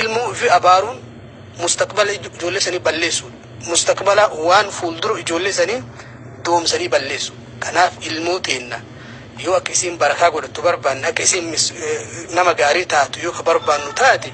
Ilmoo ofii abaaruun mustaqbala ijoollee sanii balleessuudha. Mustaqbala waan fuuldura ijoollee sanii doomsanii balleessu. Kanaaf ilmoo teenna yoo akka isiin barakaa godhattu barbaanne akka isiin mis- eh, nama gaarii taatu yoo ka barbaannu taate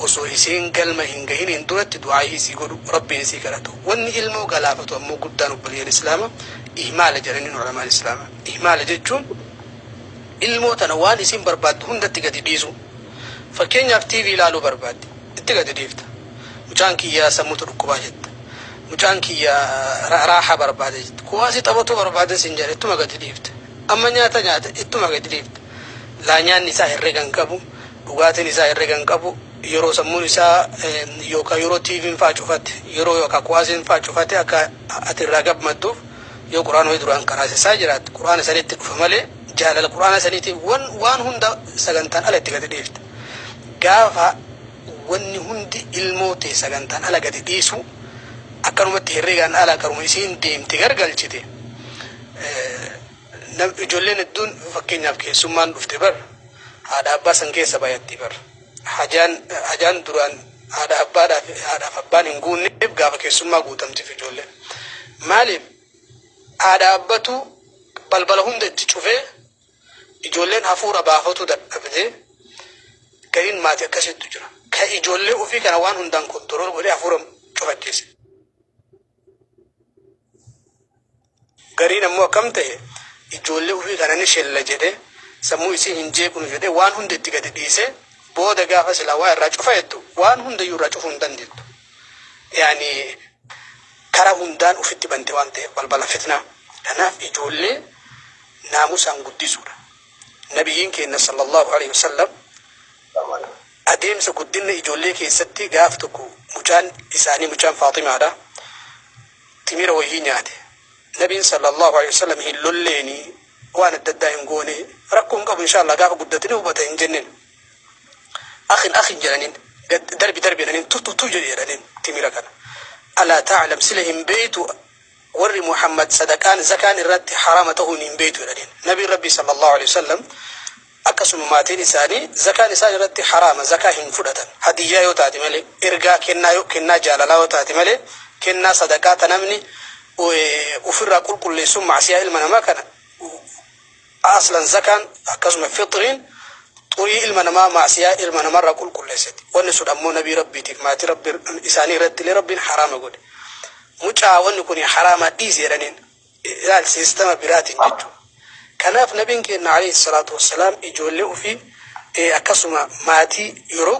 osoo isiin galma hin gahiniin duratti du'aayii isii godhu rabbiin isii kadhatu. Wanni ilmoo galaafatu ammoo guddaan obboleeyyan islaama ihmaala jedhaniin ulamaan islaama. Ihmaala jechuun ilmoo tana waan isiin barbaaddu hundatti gadi dhiisu. Fakkeenyaaf TV ilaaluu barbaadde. Itti gadi dhiifta. Mucaan kiyya sammutu dhukkubaa jetta. Mucaan kiyya raahaa barbaada jetta. Kuwaasii taphatuu barbaada siin jedha ittuma gadi dhiifta. Amma nyaata nyaata ittuma gadi dhiifta. Laa nyaanni isaa herrega hin qabu, dhugaatiin isaa herrega hin qabu, yeroo sammuun isaa yookaa yeroo TVn faa cufate, yeroo yookaa kuwaasiin faa cufate akka ati irraa gammadduuf yoo Qur'aana wayii duraan qaraasisaa jiraatte Qur'aana sanitti dhufa malee, Jaalala Qur'aana saniitiin wan waan hunda sagantaan ala itti gadi dhiifta. Gaafa wanni hundi ilmoo tee sagantaan ala gadi dhiisu akkanumatti herregaan ala karuma isiin deemte gargalchite. Nam ijoolleen hedduun fakkeenyaaf keessummaan dhufte bar haadha abbaa san keessa bayatti bar. Hajaan hajaan duraan haadha abbaadhaaf haadhaaf abbaan hin guunneef gaafa keessummaa guutamtiif ijoolleen. Maaliif? haa dhaabbatu, balbala hunda itti cufee ijoolleen hafuura baafatuu dadhabdee gariin maatii akkasiitu jira. Ka ijoollee ofii kana waan hundaan kontorool godhee hafuura cufachiise. Gariin ammoo akkam ta'e ijoollee ofii kana ni shella jedhee sammuu isii hin jeeqnu jedhee waan hunda itti gadi dhiisee booda gaafa silaa waa irraa cufa jettu waan hundayyuu irraa cufuu hin dandeettu. Yaani Karaa hundaan ufitti bante waan ta'eef balbala fitnaa. Kanaaf ijoollee naamusaan guddisuudha. Nabiyyiin keenna sallallaahu aleyhi wa sallam adeemsa guddinna ijoollee keessatti gaaf tokko mucaan isaanii mucaan Faaximaadha timira woyii nyaate. Nabiin sallallaahu aleyhi wa sallam hin lolleenii waan adda addaa hin goonee rakkoo hin qabu inshaa allaah gaafa guddate ni hubata hin jenneen. Akhin akhin jedhaniin gad darbi darbi jedhaniin tu tu tu jedhi jedhaniin timira kana. Alaa ta'alam sila hin beeytu warri Muhammad sadaqaan zakaan irraatti haraama tahuun hin beeytu jedhaniin. Nabiin Rabbii sallallahu aleyhi wasallam akkasuma maatiin isaanii zakaan isaan irratti haraama zakaa hin fudhatan. Hadiyyaa yoo taate malee ergaa kennaa yoo kennaa jaalalaa yoo taate malee kennaa sadaqaa ta namni ofirraa qulqulleessuun maasiyaa ilma namaa kana Aslan zakaan akkasuma fixriin xurii ilma namaa ma'asiyaa ilma namarraa qulqulleessiti. Wanni sun ammoo nabii Rabbiitiif maatii Rabbi isaanii irrattillee Rabbiin haraama godhe. Mucaa wanni kuni haraamaa dhiisi jedhaniin. Ilaal siistama biraatiin jechuudha. Kanaaf nabiin keenna alayhi salaatu wassalaam ijoollee ufii akkasuma maatii yeroo